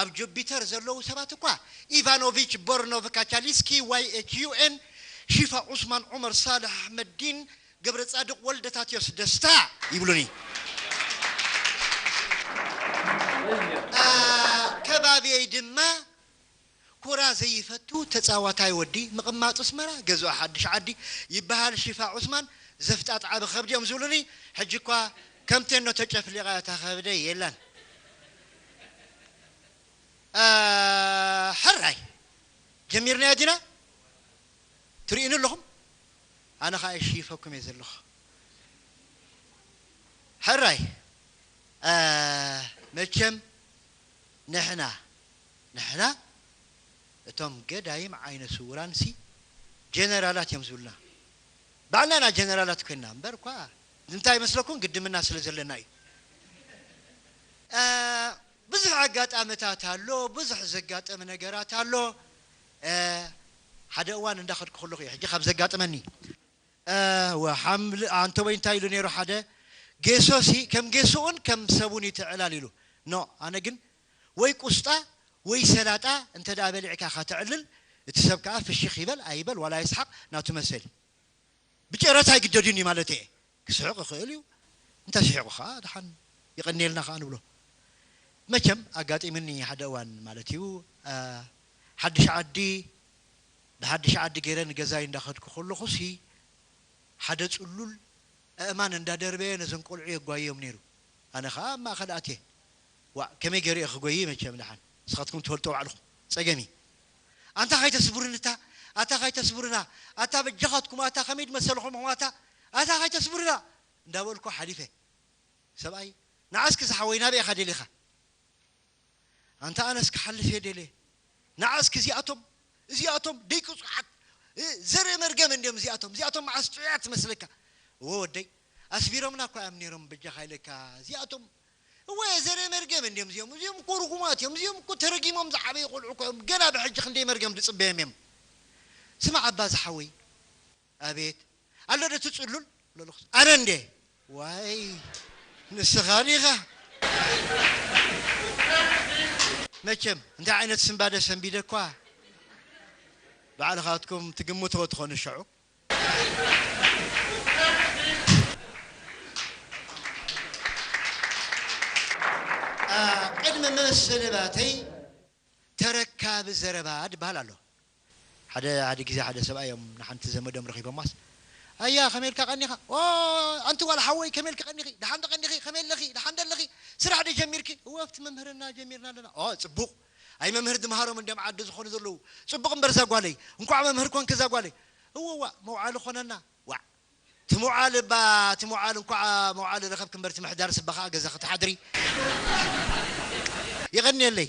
ኣብ ጁፒተር ዘለዉ ሰባት እኳ ኢቫኖቪች ቦርኖቭ ካቻሊስኪ YHUN ሺፋ ዑስማን ዑመር ሳልሕ ኣሕመዲን ገብረጻድቕ ወልደታትዮስ ደስታ ይብሉኒ። ኣብ ከባብየይ ድማ ኩራ ዘይፈቱ ተጻዋታይ ወዲ ምቅማጥ ኣስመራ ገዝኦ ሓድሽ ዓዲ ይበሃል ሺፋ ዑስማን ዘፍጣጥ ዓቢ ከብዲ እዮም ዝብሉኒ ሕጂ እኳ ከም ቴኖ ተጨፍሊቃ እያ እታ ከብደይ የላን ሕራይ ጀሚርናዮ ዲና ትርእዩኒ ኣለኹም ኣነ ከኣ ይሽይፈኩም እየ ዘለኹ ሕራይ መቸም ንሕና ንሕና እቶም ገዳይም ዓይነ ስውራን ሲ ጀነራላት እዮም ዝብሉና ባዕልና ኢና ጀነራላት ኮይንና እምበር እኳ ንምንታይ ይመስለኩም ግድምና ስለ ዘለና እዩ እእ ብዙሕ ኣጋጣምታት ኣሎ ብዙሕ ዘጋጥም ነገራት ኣሎ እእ ሓደ እዋን እንዳ ከድኩ ከለኩ እዩ ሕጂ ካብ ዘጋጥመኒ እእ ሓምሊ ኣንተቦይ እንታይ ኢሉ ነይሩ ሓደ ጌሶ ሲ ከም ጌሱኡን ከም ሰቡን እዩ ትዕላል ኢሉ ኖእ ኣነ ግን ወይ ቁስጣ ወይ ሰላጣ እንተ ደኣ በሊዕካ ከተዕልል እቲ ሰብ ከኣ ፍሽኽ ይበል ኣይበል ዋላ ይስሓቕ ናቱ መሰል እዩ። ብጨረታ ኣይግደድን እዩ ማለተይ እየ። ክስሕቕ ይኽእል እዩ እንተ ስሒቑ ከኣ ደሓን የቐንየልና ከኣ ንብሎ። መቸም ኣጋጢሙኒ ሓደ እዋን ማለት እዩ ሓድሽ ዓዲ ብሓድሽ ዓዲ ገይረ ንገዛይ እንዳ ከድኩ ከለኹሲ ሓደ ጽሉል ኣእማን እንዳ ደርበየ ነዘን ቆልዑ የጓይዮም ነይሩ ኣነ ከኣ ኣብ ማእከል ኣትየ ዋእ ከመይ ገሩ እየ ክጎይይ መቸም ዳሓን ንስካትኩም ትፈልጥዎ ባዕልኩም ፀገም እዪ ኣንታ ከይተስቡርኒ እታ ኣታ ከይተስቡርና ኣታ በጃካትኩም ኣታ ከመይ ድመሰልኩምኩም ኣታ ኣታ ከይተስቡርና እንዳበልኩ ሓሊፈ ሰብኣይ ናዓ እስኪ ዝሓወይ ናበይ ኢካ ደሊካ ኣንታ ኣነስ ክሓልፍ እየ ደልየ ናዓ እስኪ እዚኣቶም እዚኣቶም ደይ ቅፁዓት ዘርኢ መርገም እንድዮም እዚኣቶም እዚኣቶም ማዓስ ጥዑያት ትመስለካ እወ ወደይ ኣስቢሮምና እኮ እዮም ነይሮም በጃካ ኢለካ እዚኣቶም እወ ዘርኢ መርገም እንድዮም እዚኦም እዚኦም እኮ ርጉማት እዮም እዚኦም እኮ ተረጊሞም ዝዓበዩ ቆልዑ እኮ እዮም ገና ብሕጂ ክንደይ መርገም ድጽበዮም እዮም ስማዕ እባ ዝሓወይ ኣቤት ኣሎ ዶ እቲ ጽሉል ለልኹስ ኣነ እንዴ ዋይ ንስኻ ዲኻ መቸም እንታይ ዓይነት ስንባደ ሰንቢደኳ ባዕልኻትኩም ትግምትዎ ትኾኑ ሸዑ ቅድሚ መሰንባተይ ተረካቢ ዘረባ ድበሃል ኣሎ። ሓደ ሓደ ግዜ ሓደ ሰብኣይ እዮም ንሓንቲ ዘመዶም ረኺቦማስ ኣያ ከመይ ኢልካ ቀኒኻ ኦይ ኣንቲ ጓል ሓወይ ከመይ ኢልኪ ቀኒኺ ደሓንዶ ቀኒኺ ከመይ ኣለኺ ደሓንዶ ኣለኺ ስራሕ ዶ ጀሚርኪ እወ ኣብቲ መምህርና ጀሚርና ኣለና ኦ ጽቡቕ ኣይ መምህር ድምሃሮም እንድዮም ዓዲ ዝኮኑ ዘለዉ ጽቡቅ እምበር እዛ ጓለይ እንኳዕ መምህር ኮንኪ እዛ ጓለይ እወዋእ መውዓሊ ኮነና ዋዕ ትምውዓል እባ ትምውዓል እንኳዕ መውዓሊ ረከብኪ እምበር ትምሕዳርስ እባ ከኣ ገዛኪ ትሓድሪ የቀንየለይ።